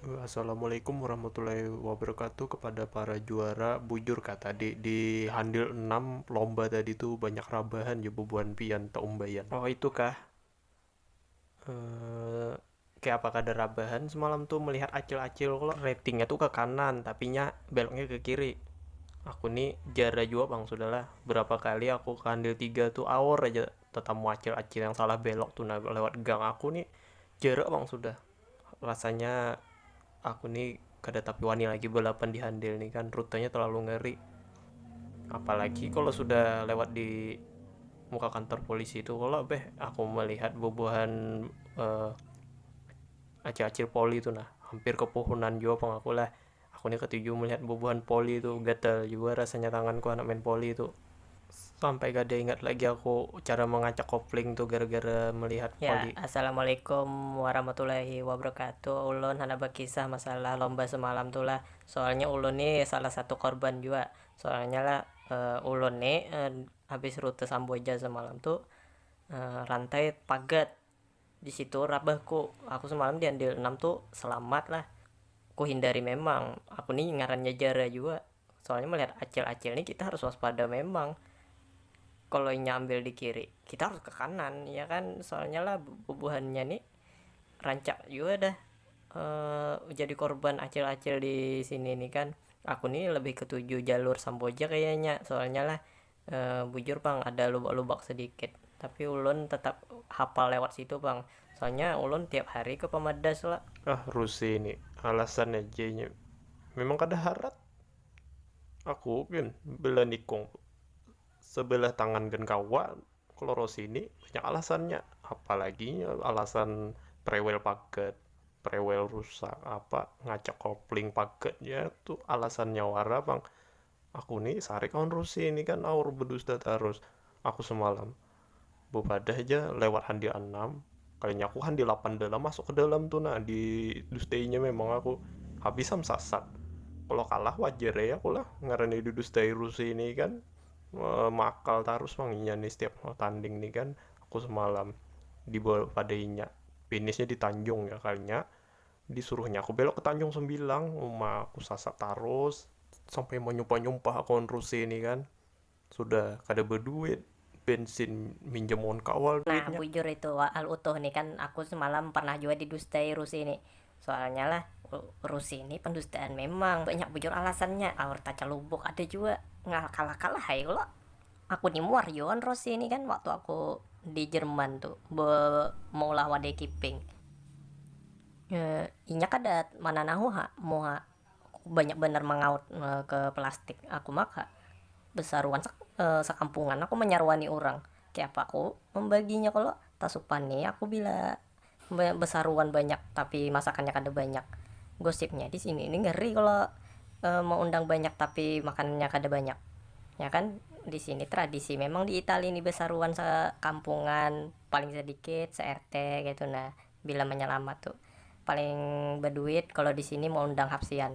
Assalamualaikum warahmatullahi wabarakatuh kepada para juara bujur kah tadi di handil enam lomba tadi tu banyak rabahan ja bubuhan pian taumbaian oh itu kah kaya apa kada rabahan semalam tu melihat acil-acil klo rating nya tu ke kanan tapi nya belok nya ke kiri aku ni jara jua pang sudah lah berapa kali aku ke handil tiga tu awor aja tetamu acil-acil yang salah belok tu nah lewat gang aku ni jara pang sudah. rasanya aku ni kada tapi wani lagi balapan di handil ni kan rutenya terlalu ngeri apalagi kalau sudah lewat di muka kantor polisi itu kalau beh aku melihat bubuhan uh, eh, acil-acil poli itu nah hampir kepohonan jua pang aku lah Aku ni ketuju melihat bubuhan poli tu, gatal jua rasanya tangan ku handak main poli tu, sampai kada ingat lagi aku cara mengacak kopling tu gara gara melihat poli. Ya, assalamualaikum warahmatullahi wabarakatuh, ulun handak bakisah masalah lomba semalam tu lah, soalnya ulun ni salah satu korban jua, soalnya lah ulun ni habis rute samboja semalam tu rantai pagat, disitu rabah ku aku semalam di andil enam tu selamat lah ku hindari memang aku ni ngarannya jara jua soalnya melihat acil acil ni kita harus waspada memang kalo inya ambil di kiri kita harus ke kanan ya kan soalnya lah bubuhannya ni rancak jua dah jadi korban acil acil di sini ni kan aku ni lebih ketuju jalur samboja kayanya soalnya lah Bujur pang ada lubak-lubak sedikit, tapi ulun tetap hapal lewat situ pang, soalnya ulun tiap hari ke pamadas la. Ah Ruse ni, alasan aja inya memang kada harat, aku gin bila nikung sebelah tangan gin kawa, kalo Rose ni banyak alasannya, apalagi inya alasan prewel pagat, prewel rusak apa, ngacak kopling pagat, ya tu alasannya wara pang, Aku ni sarik awan Rusi ini kan aur bedusta tarus aku semalam bepadah ja lewat handi anam kayanya aku handi lapan dalam masuk ke dalam tu nah di dustainya memang aku habis am sasat kalo kalah wajar ai aku lah ngarannya di dustai Rusi ini kan meakal tarus pang inya ni setiap mau tanding ni kan aku semalam di bawa pada inya pinishnya di tanjung ya kayanya. Disuruhnya aku belok ke Tanjung Sembilang, uma aku sasat tarus, sampai manyumpah-nyumpah aku wan Ruse ni kan, sudah kada baduit, bensin minjam wan kawal duitnya. Nah bujur itu Al Utuh ni kan aku semalam pernah jua didustai Ruse ni, soalnya lah Ruse ni pendustaan memang, banyak bujur alasannya, aur tacalubuk ada jua, ngalakal-lakal lah ai kalo. aku ni muar jua wan rosi ni kan waktu aku di jerman tu be maulah wadai kiping inya kada mananahu ha muha banyak banar mangaut ke plastik aku maka besaruan sak sakampungan aku manyaruani urang kaya apa aku mambaginya kalo tasupani aku bila Besaruan banyak tapi masakannya kada banyak gosipnya disini ini ngeri kalo meundang banyak tapi makanannya kada banyak ya kan disini tradisi memang di itali ini besaruan sekampungan paling sedikit se rt ketu nah bila menyelamat tu paling beduit kalo disini meundang hapsian.